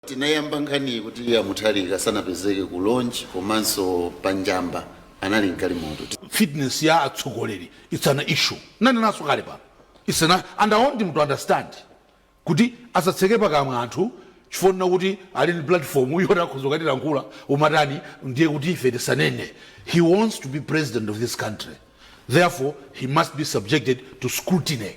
Tinayamba nkhaniyi kuti a Mutharika sanapezeke ku launch komano pa Njamba anali mgalimoto. fitness ya atsogoleri is an issue ndipo ndinanena kale pano its an and i want him to understand kuti asatseke pakamwa anthu chifukwa chonena kuti ali ndi platform yoti akhoza kukatilankhula umatani ndiye kuti ife tisanene he wants to be president of this country therefore he must be subjected to scrutiny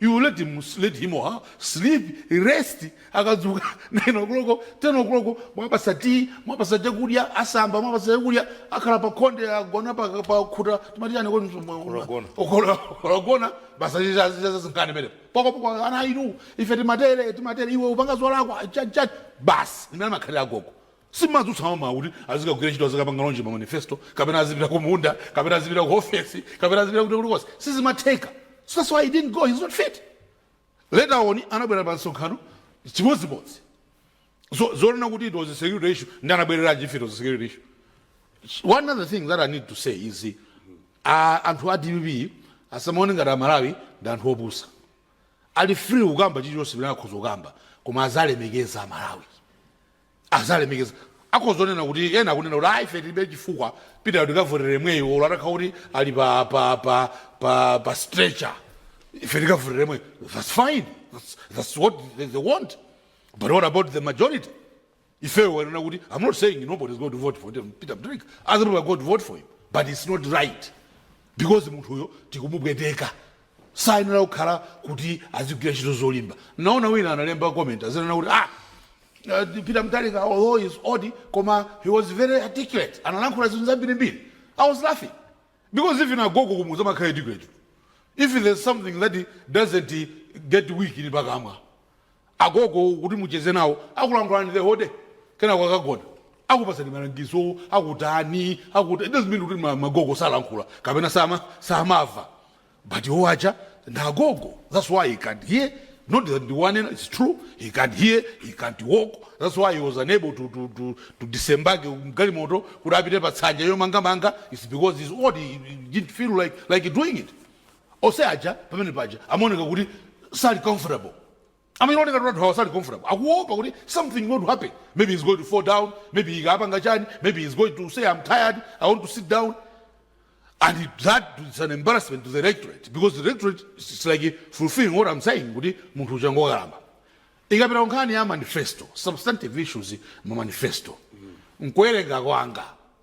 You let him, let him or her sleep, rest, akadzuka 9 o'clock, 10 o'clock, mwapatsa tea, mwapatsa chakudya, asamba, mwapatsa chakudya, akhala pa khonde, agona pa, pa khuta, timati chani kodi msumba- Kulogona. Okolo- kulogona, basa chicha- chicha zazinkani pene. Poko poko ana inu, ife timatere, timatere, iwe upanga zolakwa, chani chani, basi, ndimene amakhalira agogo. Sumadzutsa m'mawa kuti azikagwira ntchito azikapanga launch ma manifesto kapena azipita ku munda kapena azipita ku ofesi kapena azipita kuti kulikonse sizimatheka so that's why he didn't go he's not fit later on anabwera pa msonkhano chimodzimodzi so zonena kuti it was a security issue ndi anabwereranji if it was a security issue one other thing that i need to say is uh, anthu a dpp asamaone ngati amalawi ndi anthu opusa ali free kukamba chilichonse pamene akhoza kukamba koma aziwalemekeza amalawi aziwalemekeza akhoza kunena kuti ena akunena kuti ah ife tilibe chifukwa Peter-yo tikavotera yemweyo olo atakhala kuti ali pa, pa, pa, pa, pa stretcher ife tikavotera yemweyo that's fine that's, that's what they, they want but what about the majority ifeyo tikunena kuti i'm not saying nobody is going to vote for them, peter mutharika other people are going to vote for him but it's not right because munthuyo tikumupweteka sayenera kukhala kuti azigwira ntchito zolimba naona wina analemba comment azinena kuti ah Peter Mutharika although he is old koma he was very articulate analankhula zinthu zambiri mbiri i was laughing because even agogo kumudzi amakhala articulate tu if there is something that doesn't get weak ndi pakamwa pa agogo kuti mucheze nawo akulankhulani the whole day kenako akagona akupatsani malangizo akutani akuta it doesn't mean kuti ma- magogo salankhula kapena sama samava but iwo aja ndagogo that's why he can't hear not that ndiwanena it's true he can't hear he can't walk that's why he was unable to, to, to, to disembage mgalimoto kuti apite pa tsanja yomangamanga it's because he's old he, he didn't feel like, like doing it ose aja pamene paja amaoneka kuti sali comfortable Amene otenga katundu awa sali comfortable akuopa kuti something not happen maybe he's going to fall down maybe he apanga chani maybe he's going to say am tired i want to sit down and that is an embarrassment to the rectorate because the rectorate is like fulfilling what i'm saying kuti munthu uja ngokalamba ikapita kunkhani ya manifesto substantive issues mu manifesto nkuwerenga kwanga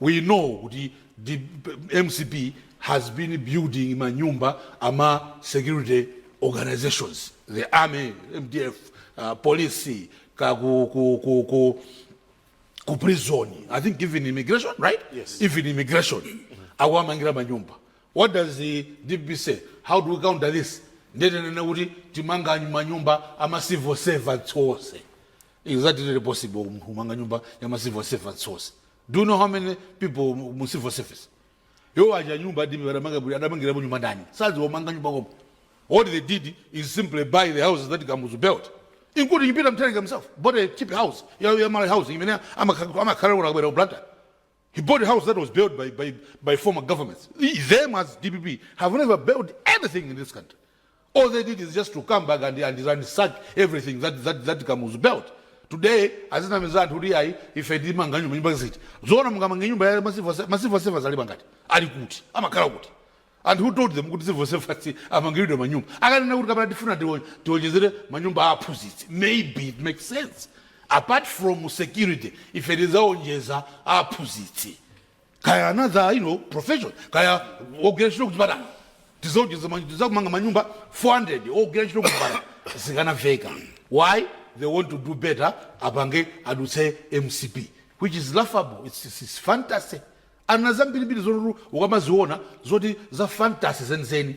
we know kuti mcp has been building manyumba ama security organizations the army mdf uh, police ka ku, ku, ku, ku, ku prison i think even immigration right Yes. even immigration akuwamangira manyumba what does the dpp say how do we counter this ndetenene kuti timanga manyumba ama civil servants onse Exactly sizili possible kumanga nyumba ya ma civil servants onse. Do you know how many people mu civil service? Iwo aja nyumba alibe adamanga bwino adamangirapo nyumba ndani? Sadziwa kumanga nyumba koma. What they did is simply buy the houses that Kamuzu built. Including Peter Mutharika himself bought a cheap house ya ya Malawi housing imene amakhala amakhala unakabwera ku Blantyre. He bought a house that was built by, by, by former governments. Them as DPP have never built anything in this country. All they did is just to come back and, and, and sack everything that, that, that Kamuzu built. Today, azinamiza anthu kuti ayi ife timanga nyumba nyumba ziti. Zoona mungamange nyumba ya ma civil ma civil servants ali angati. Ali kuti? Amakhala kuti? And who told them kuti civil servants amangilidwe manyumba? Akanena kuti kapena tifuna tionjezere manyumba a aphunzitsi maybe it makes sense. Apart from security ife tidzaonjeza a aphunzitsi kaya another you know, profession kaya ogwira ntchito kuchipatala tizaonjeza ma- tizamanga manyumba 400 ogwira ntchito kuchipatala zikanaveka. Why? They want to do better apange adutse mcp which is laughable it's, it's, it's fantasy. Ana zambirimbiri zoti ukamaziona zoti za fantasy zenizeni.